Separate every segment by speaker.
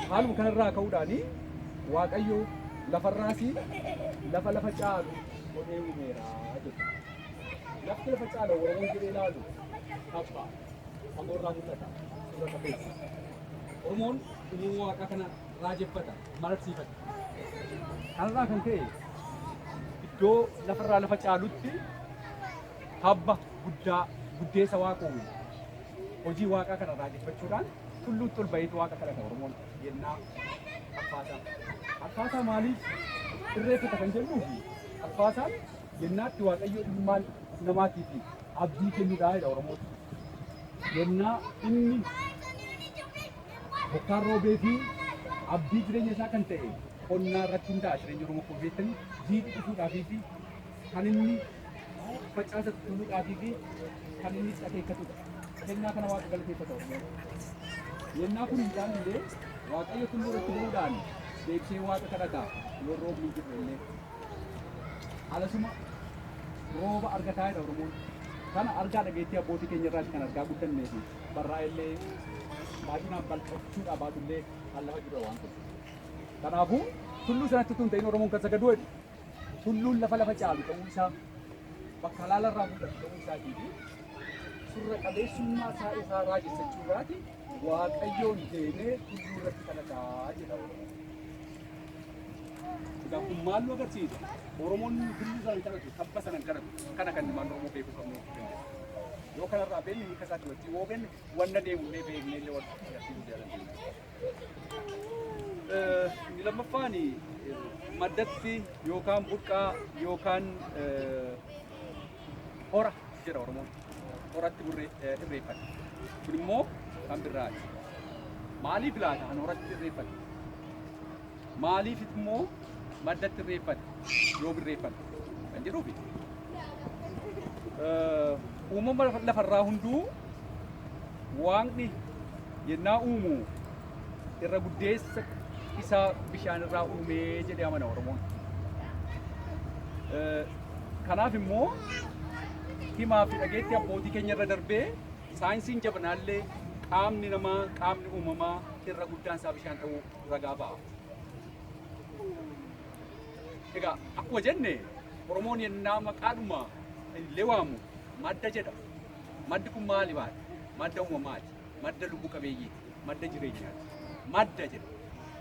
Speaker 1: haaluma kanarraa ka'uudhaan waaqayyo lafarraas lafa lafa caalu godhee uumeera jedha. Lafti lafa caalu warreen jedhee ilaalu tapha fagoorraa mul'ata suurata keessa. Oromoon uumama waaqaa kana raajeffata mararsiifata. Kanarraa kan ka'e iddoo lafarraa lafa caalutti Tabba guddaa guddeessa waaqa uume. Hojii waaqaa kana raajeffachuudhaan tulluutti ol baheetu waaqa kadhata Oromoon yennaa Arfaasaa. Arfaasaa maaliif irreeffata kan jennuu fi Arfaasaan yennaatti Waaqayyo ilmaan namaatii fi abdii kennudhaa jedha Oromoon. Yennaa inni bokkaan roobee fi abdii jireenya isaa kan ta'e qonnaa irratti hundaa'a jireenya Oromoo koo beektanii jiidhi dhufuudhaafii fi kan inni facaasa tulluu dhaabii fi kan inni akeekatudha. Kennaa kana waaqa galateeffata Oromoon. Yennaa kun hin taane illee waaqayyo tulluu irratti bu'uudhaan deebisee waaqa kadhata yoo roobni hin jirre illee. Alasuma rooba argataa jedha Oromoon. Kana argaa dhageettii abbootii keenya irraati kan argaa guddannee fi barraa illee baay'inaan bal'achuudhaa baatullee kan lafa jirra waan ta'eef. Kanaafuu tulluu sanatti tun ta'in Oromoon kan sagaduu jedhu Tulluun lafa lafa caalu ta'uu isaa, bakka laala irraa mul'atu ta'uu isaatii fi surra qabeessummaa isaa isaa raajessachuu irraati Waaqayyoon deemee tulluu irratti kadhataa jedha Oromoon. Egaa kun maal nu agarsiisa? Oromoon tulluu sana hin kadhatu, tabba sana hin kadhatu. Kana kan ilmaan Oromoo beekuu qabnu jechuu dandeenya. Yoo kanarraa beekne hiika isaatti wajjin yoo beekne wanna deemullee beeknee illee wal qabsiisuu dandeenya. Inni lammaffaan maddatti yookaan burqaa yookaan hora jedha Oromoon. Horatti irreeffata. Kun immoo kan birraati. Maaliif laata kan horatti irreeffata? Maaliif immoo maddatti irreeffate yoo birreeffate kan jedhuufi. Uumama lafarraa hunduu waaqni yennaa uumu irra guddeessa isaa bishaan irraa uumee jedhee amana Oromoon. Kanaaf immoo himaa fi dhageetti abbootii keenya irra darbee saayinsiin jabnaallee qaamni namaa qaamni uumamaa irra guddaan isaa bishaan ta'uu ragaa ba'a. Egaa akkuma jenne Oromoon yennaa maqaadhuma illee waamu madda jedha. Maddi kun maali maali? Madda uumamaati. Madda lubbu qabeeyyiiti. Madda jireenyaati. Madda jedha.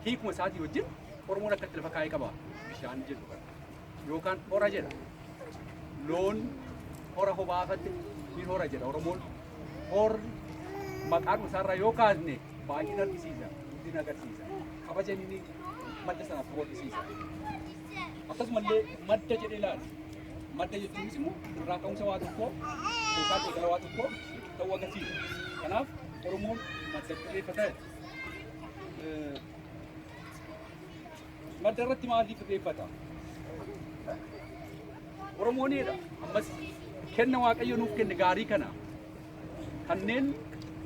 Speaker 1: Hiikuma isaatii wajjin Oromoon akkatti lafa kaa'ee qaba. Bishaan jedhu kana. yookaan hora jedha. Loon hora hobaafatti ni hora jedha Oromoon. Horri maqaan isaarraa yoo kaasne baay'ina argisiisa, guddina agarsiisa, kabaja inni madda sanaaf qabu argisiisa. Akkasumallee madda jedhee ilaala. Madda jechuunis immoo irraa ka'umsa waa tokkoo yookaan eegala waa tokkoo ta'uu agarsiisa. Kanaaf Oromoon madda xiyyeeffata. Madda irratti maaliif irreeffata? Oromooneedha. Ammas kenna Waaqayyo nuuf kenne gaarii kana kanneen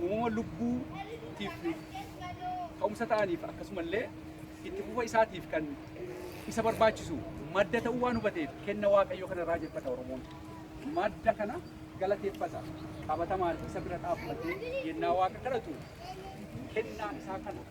Speaker 1: uumama lubbuutiif ka'umsa ta'aniif akkasumallee itti fufa isaatiif kan isa barbaachisu madda ta'uu waan hubateef kenna Waaqayyo kana raajeffata Oromoon. Madda kana galateeffata. Qabatamaan isa bira dhaabbatee yennaa waaqa kadhatu kennaa isaa kana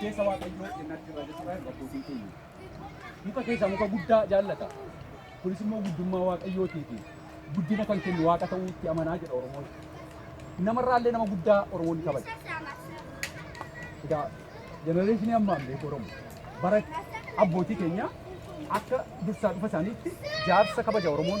Speaker 1: Keessa waaqayyoo jennaatti irraa jechuudha abbootiin keenya. Muka keessaa muka guddaa jaallata. Kunis immoo guddummaa waaqayyootii fi guddina kan kennu waaqa ta'uu itti amanaa jedha Oromoon. Namarraallee nama guddaa Oromoon ni kabaja. Egaa jenereeshinii ammaan beeku Oromoo bara abbootii keenya akka dursaa dhufa isaaniitti jaarsa kabaja Oromoon